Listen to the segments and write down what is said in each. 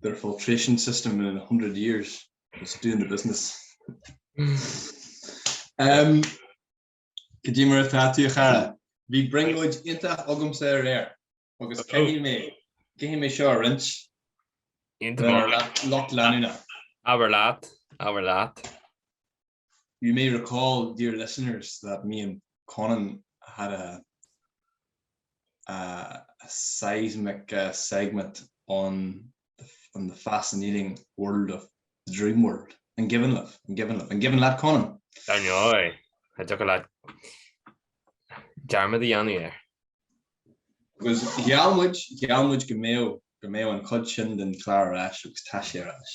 their filtration system in 100 years is doing the business um could you move that to chara be bring would inta agam sa air agus cé mé cé mé seo rinch lot lena aber lat aber lat You may recall, dear listeners, that me and Conan had a a a seismic segment on on the fascinating world of the dream world. An cuimhin libh? An cuimhin leat? An cuimhin leat, Conan? Dar ndóigh, an dtiocfadh leat dearmad a dhéanamh air. Agus gheall muid, gheall muid go mbeadh, go mbeadh an chuid sin den chlár ar ais agus tá sé ar ais.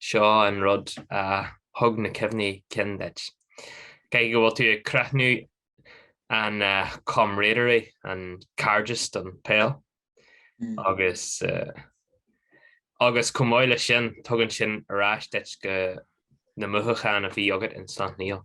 Seo an rud a thug na cuimhní cinn duit. Caithfidh go bhfuil tú ag crothnú an camaraderie, an cairdeas don pheil agus agus chomh maith leis sin, tugann sin ar ais duit go na mothúcháin a bhí agat in Sleacht Néill.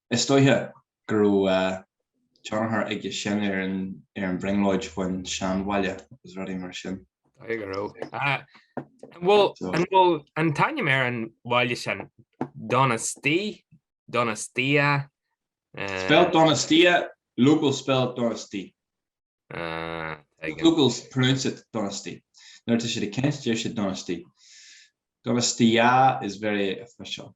Is dóiche go raibh tionchar aige sin ar an bhrionglóid faoin seanbhaile agus rudaí mar sin. Dóiche go raibh. An bhfuil an t-ainm ar an bhaile sin Donostia? Donostia? Spelled Donostia, locals spell it Donosti. Ah, there you go. Locals pronounce it Donosti. Nuair atá siad ag caint, deir siad Donosti. Donostia is very official.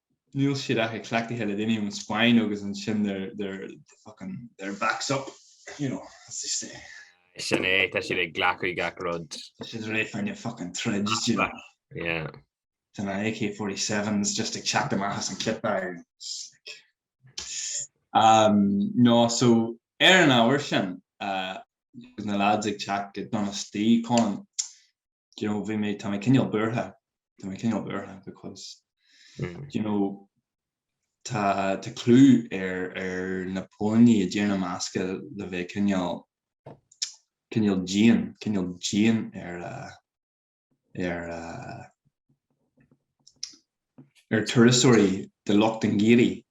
Níl siad ach ag cleachtaithe le daoine ón Spáinn agus ansin they're fucking their backs up, you know, as they say. Sin é, tá siad ag glacadh gach rud. Tá siad réidh fá choinne fucking troid, do you know. Yeah. Tá na AK-47s just ag teacht amach as an clip air. Umm, no, so ar an ábhar sin, agus na lads ag teacht go Donosti, Conan, you know, bhí mé, tá mé cineál buartha, tá mé cineál buartha because, mm. you know, tá tá clú ar ar na póilíní i dTír na mBascach le bheith cineál cineál dian, cineál dian ar uh, ar uh, ar turasóirí de lucht an guiri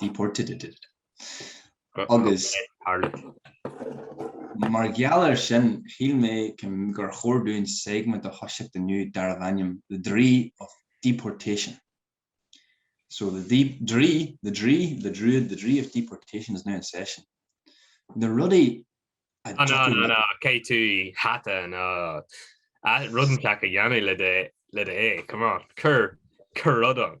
deported. Agus mar gheall air sin, shíl mé gur chóir dúinn segment a thoiseacht inniu darbh ainm The Draoi of Deportation. So the the draoi, the draoi, the druid, the draoi of deportation is now in session. Na rudaí a An dtiocfadh an le- an cé tú hata an a rud inteacht a dhéanamh le do le do é come on cur cur rud ann.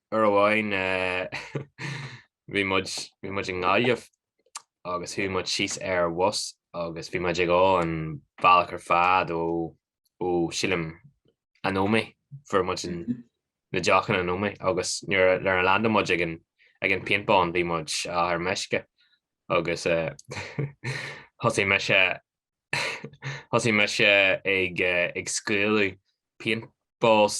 uair amháin bhí muid bhí muid i nGaillimh agus chuaigh muid síos ar an bhus agus bhí muid ag ól an bealach ar fad ó ó sílim an Ómaigh fuair muid an na deochanna an Ómaigh agus nuair nuair a landáil muid ag an ag an paintball bhí muid á ar meisce agus thosaigh mise thosaigh mise ag ag scaoileadh paintballs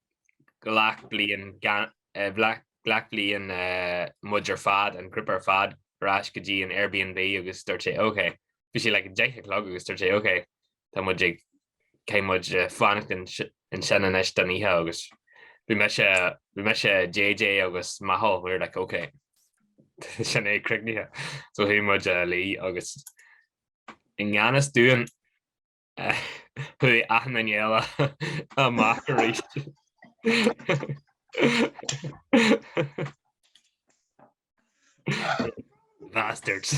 ghlac bliain, ghlac bliain muid ar fad, an grúpa ar fad, ar ais go dtí an Airbnb agus dúirt sé OK. Bhí sé like an deich a chlog agus dúirt sé OK, tá muid ag, caithfidh muid fanacht ansin anois don oíche agus bhí mise, bhí mise, JJ agus Micheál, we were like OK, sin é críochnaithe. So chuaigh muid a luí agus i ngan fhios dúinn, Chuaigh achan duine eile amach arís. Bastards.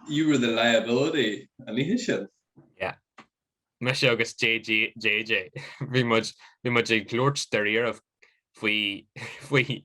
You were the liability an oíche sin. Yeah. Mise agus JJ. Bhí muid ag labhairt dáiríre faoi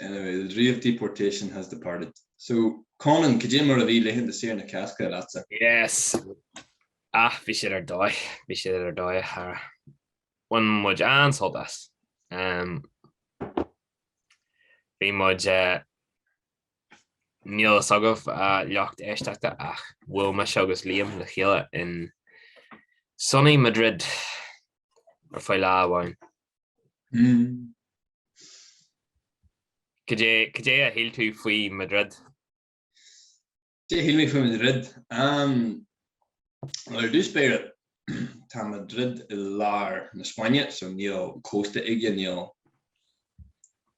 Anyway, the dream of deportation has departed. So, Conan, cad é mar a bhí laethanta saoire na Cásca leatsa? Yes. Ach bhí siad ar dóigh, bhí siad ar dóigh a chara. Bhain muid an-sult as. Um, bhí muid uh, níl a fhios agaibh, a lucht éisteachta ach bhuail mise agus Liam le chéile in sunny Madrid ar feadh lá amháin. Cad é a shíl tú faoi Madrid? Cad é a shíl mé faoi Madrid? Ar dtús báire, tá Madrid i lár na Spáinne so níl cósta aige, níl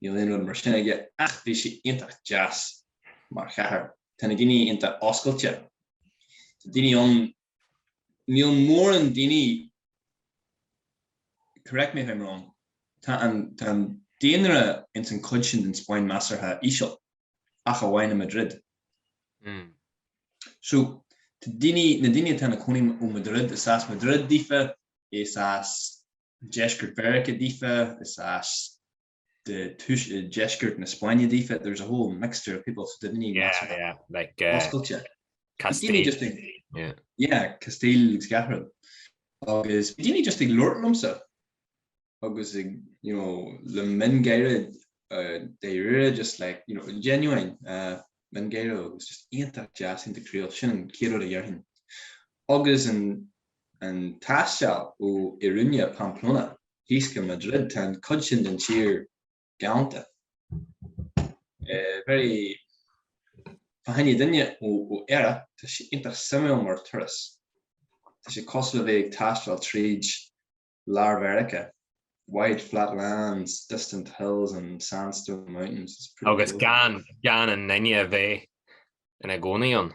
aon rud mar sin aige ach bhí sé iontach deas mar chathair. Tá na daoine iontach oscailte. Tá daoine ann níl móran daoine, correct me if I'm wrong, tá an daonra ins an cuid sin den Spáinn measartha íseal, ach amháin i Madrid. Hmm. So, tá daoine, na daoine atá ina cónaí ó Madrid, is as Madrid daofa, is as deisceart Mheiriceá daofa, is as de túis i deisceart na Spáinne daofa, there's a whole mixture of people, so daoine measctha yeah, yeah, like, uh, oscailte. Castile. Just ag, yeah. yeah, Castile agus Gahrad. Agus bhí daoine just ag labhairt liomsa agus ag, you know, le miongháire uh, dáiríre, just like, you know, genuine uh, miongháire agus just iontach deas, iontach croíúil, sin céard a déarfainn. Agus an, an taisteal ó Iruña, Pamplona, thíos go Madrid, tá an cuid sin den tír galánta. Very fá choinne duine ó Éire, tá sé iontach suimiúil mar turas. Tá sé cosúil le bheith ag taisteal tríd Lár Mheiriceá, wide flat lands, distant hills and sandstone mountains, it's pretty cool. Agus gan gan aon duine a bheith ina gcónaí ann.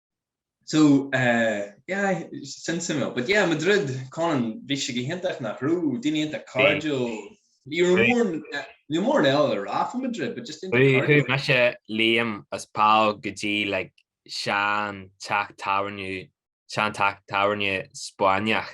So yeah, sin suimiúil. But yeah, Madrid, Conan, bhí sé go hiontach nach raibh, daoine iontach cairdiúil. Ní raibh mórán eile le rá faoi Madrid, but just iontach cairdiúil. Chuaigh mise, Liam agus Paul go dtí like sean teach tábhairne, sean teach tábhairne Spáinneach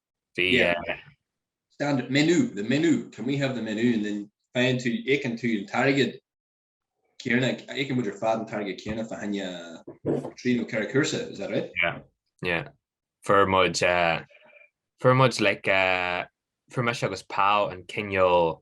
Bhí. Standard menu, the menu, can we have the menu? And then faigheann tú, íocann tú an t-airgead céanna, íocann muid ar fad an t-airgead céanna fá choinne trí nó ceithre cúrsa, is that right? Yeah, yeah. Fuair muid, fuair muid like, fuair mise agus Paul an cineál,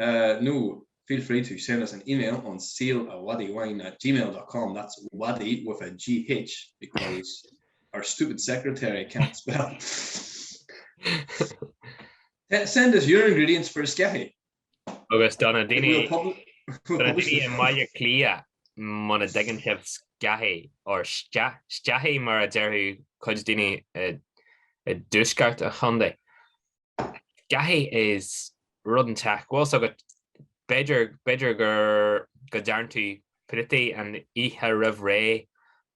nó feel free to send us an email on sealawadiwine at gmail dot com, that's mhadaigh with a GH because our stupid secretary can't spell. Send us your ingredients for a scathy. Agus do na daoine i mBaile Cliath, muna dtuigeann sibh scathy, or scathy mar a déarfadh cuid daoine i dtuaisceart an chontae, Scathy, is rud inteacht, bhfuil 's agat, b'fhéidir, b'fhéidir gur, go dtearn tú préataí an oíche roimh ré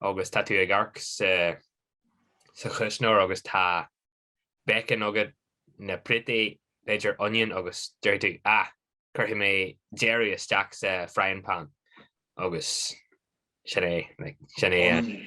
agus tá tú ag amharc sa, sa chuisneoir agus tá bacon agat, na préataí, b'fhéidir onion agus deir tú, ah, cuirfidh mé deireadh isteach sa frying pan agus sin é, like, sin é an.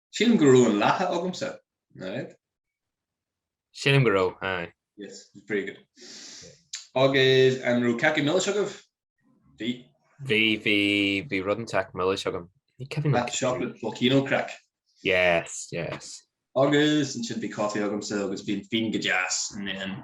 Sílim go raibh an lacha agamsa, nach raibh? Sílim go raibh, aye. Yes, very good. Agus an raibh cácaí milis agaibh? Bhí. Bhí, bhí, bhí rud inteacht milis agam. Ní ceapaim That chocolate volcano crack. Yes, yes. Agus ansin bhí coffee agamsa agus bhí an fíon go deas and then.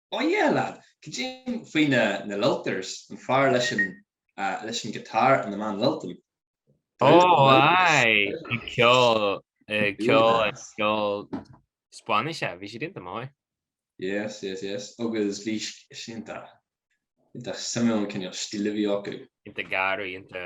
Oh yeah lad, cad é faoi na lilters, an fear leis an leis an guitar and the man lilting. Oh aye, ag ceol, ag ceol ag ceol Spáinnise, bhí siad ionta maith. Yes, yes, yes, agus bhí siad ionta, ionta suimiúil an cineál stíl a bhí acu. Ionta garraí, ionta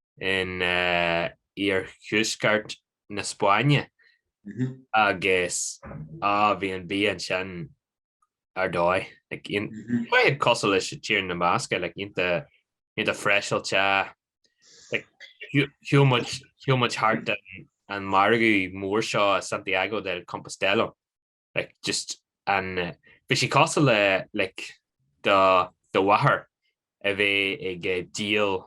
in iarthuaisceart na Spáinne agus á bhí an bia ansin ar dóigh. Tá siad cosúil leis Tír na mBascach, like ionta freiseáilte. Chuaigh muid thart an margadh mór seo i Santiago de Compostela. like just an bhí sé cosúil le like do do mháthair a bheith ag díol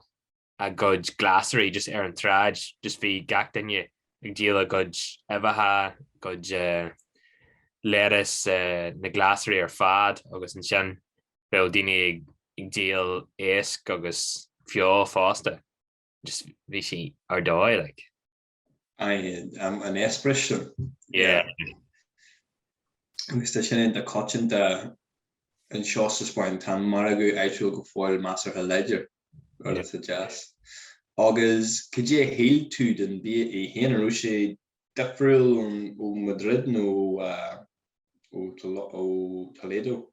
a gcuid glasraí just ar an tsráid just bhí gach duine ag díol a gcuid uibheacha gcuid lettuce na glasraí ar fad agus ansin bheadh daoine ag ag díol iasc agus feoil fosta just bhí sé ar dóigh like. an eispéireas sin. Agus tá sin iontach coitianta anseo sa Spáinn, tá an margadh áitiúil go fóill measartha láidir, rud atá deas. Agus cad é a shíl tú den bia é féin? An raibh sé difriúil ó Madrid nó ó Toledo?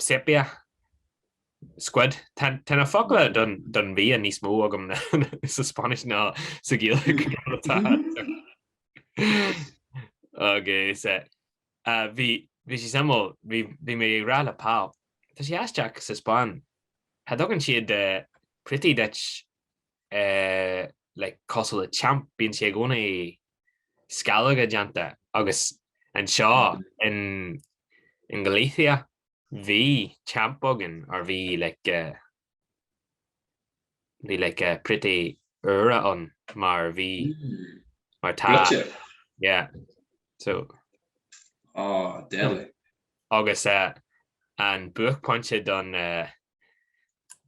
Sepia Squid. Tá na focla don bhia níos mó agam sa Spáinnis ná sa Ghaeilge. Agus bhí sé suimiúil, bhí mé ag rá le Pól, tá sé aisteach sa Spáinn, cha dtugann siad préataí duit like cosúil le champ, bíonn sé i gcónaí sceallóga déanta agus anseo in Galicia bhí champ againn or bhí like bhí like préataí úra ann mar bhí mar tá yeah so oh deadly agus eh an buaicphointe don eh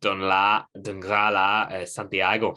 don lá don dhá lá eh Santiago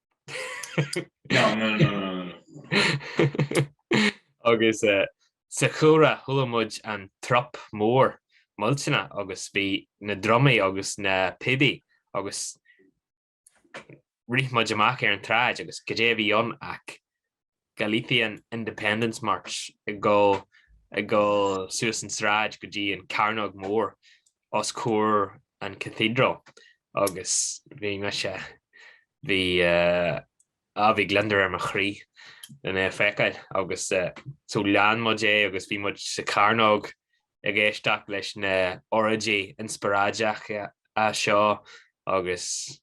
Agus sa chúlra chuala muid an trup mór millteanach agus bhí na drumaí agus na píobaí agus rith muid amach ar an tsráid agus goidé a bhí ann ach Galician Independence March ag dul ag dul suas an sráid go dtí an Cearnóg Mór os comhair an Cathedral agus bhí mise bhí ah bhí gliondar ar mo chroí chun é a feiceáil agus eh so lean muid é agus bhí muid sa chearnóg ag éisteacht leis na oráidí inspioráideacha seo agus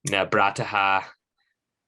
na bratacha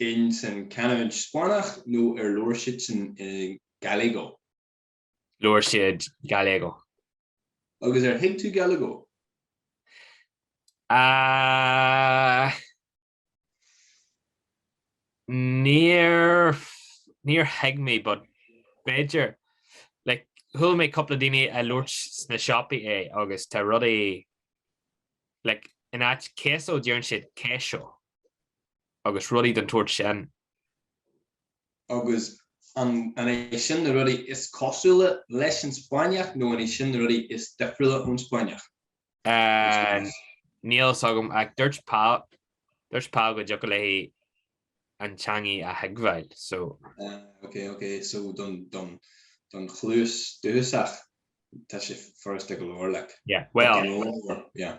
insan canúint Spáinneach nó ar labhair siadsan Gallego? labhair siad Gallego. Agus ar thuig tú Gallego? Ah, níor, níor thuig mé, but b'fhéidir, like, chuala mé cúpla daoine a' labhairt sna siopaí é agus tá rudaí, like, in áit queso deireann siad queixo. agus rudaí den tsórt sin. Agus an iad sin na rudaí is cosúla leis an Spáinneach nó an é sin na rudaí is difriúla ón Spáinneach? Níl a fhios agam ach dúirt Pau go dtiocfadh léi an teangaidh a thuigbheáil, so. Ok, ok, so don chluas dúchasach tá sé furasta go leor, like. Yeah, well. Gan eolas, yeah.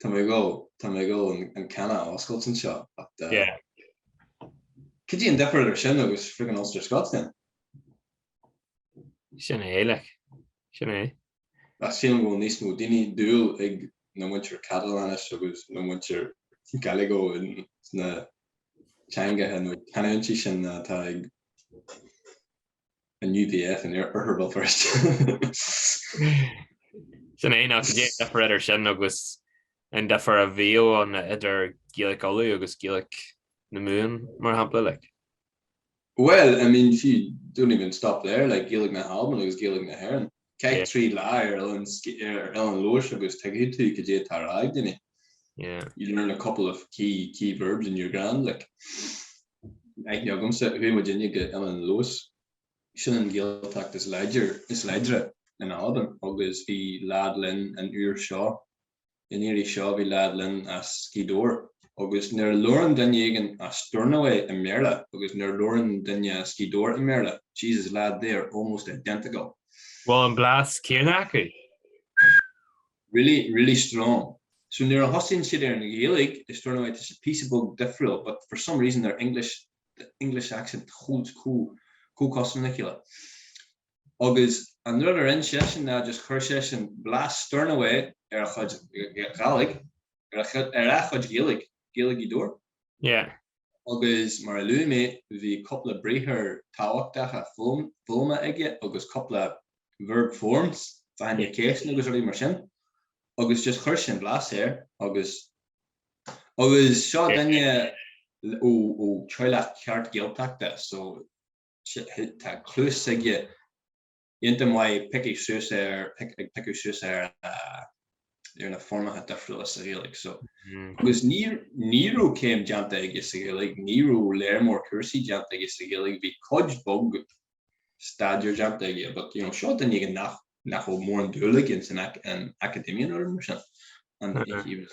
Tá mé ag dul, tá mé ag dul an canna a oscailt anseo ach eh, Yeah. cad í an difear idir sin agus friggin Ulster Scots then? Sin é, like. Sin é. Ach sílim go bhfuil níos mó daoine dúil ag na muintir Catalóinis agus na muintir Gallego in sna teangacha nó canúintí sin atá ag an UVF in Oirthear Bhéal Feirste. Sin é ná cad é an difear idir sin agus an difear a bhíodh ann idir Gaelic Uladh agus Gaelic na Mumhan, mar shampla, like? Well, I mean, sure don't even stop there, like, Gaelic na hAlban agus Gaelic na hÉireann, Caith trí lá ar Oileán Leòdhais agus tuigfidh tú cad é atá á rá ag duine. You learn a couple of key verbs and you're grand like. Aithne agamsa, chuaigh muid inne go hOileán Leòdhais. Sin an Gaeltacht is láidre in Albain agus bhí lead linn an uair seo. an iarraidh seo bhí lead linn as Gaoth Dobhair agus nuair a labhrann duine éigin as Stornoway i mBéarla agus nuair a labhrann duine as Gaoth Dobhair i mBéarla, Jesus lad, they are almost identical. Bhfuil an blas céanna acu? Really, really strong. So nuair a thosaíonn siad ar an Ghaeilge i Stornoway tá sé píosa beag difriúil but for some reason their English, the English accent holds chomh cosúil le chéile. Agus an rud a rinne seisean ná just chuir seisean blas Stornoway ar a chuid Ghaidhlig, ar a chuid Ghaeilge, Gaeilge Ghaoth Dobhair. Yeah. Agus mar a luaigh mé, bhí cúpla briathar tábhachtacha foghlamtha aige agus cúpla verb forms, faigheann, yeah. faigheas, na cinn agus rudaí mar sin. Agus just chuir sé blas air agus agus seo yeah. duine ó ó teaghlach ceart Gaeltachta so tá cluas aige iontach maith ag piocadh suas ar ag piocadh suas ar ar na foirmeacha difriúla sa Ghaeilge so agus ní ní raibh céim déanta aige sa Ghaeilge ní raibh lear mór cúrsaí déanta aige sa Ghaeilge bhí cuid bheag staidéir déanta aige but you know seo duine again nach nach raibh mórán dúil aige in san academia nó rud mar sin and he was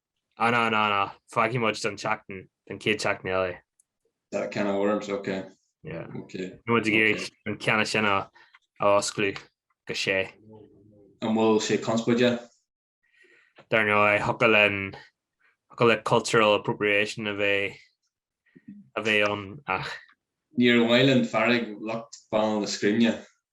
An an an ach fágfaidh muid don tseachtain, don chéad tseachtain eile. That can of worms, ok. Yeah. Ok. Níl muid ag iarraidh an ceann sin a osclú go sea. An bhfuil sé conspóideach? Dar ndóigh, thiocfadh linn, thiocfadh le cultural appropriation a bheith, a bheith ann ach. Níor mhaith linn fearg lucht Bhaile na Scríne.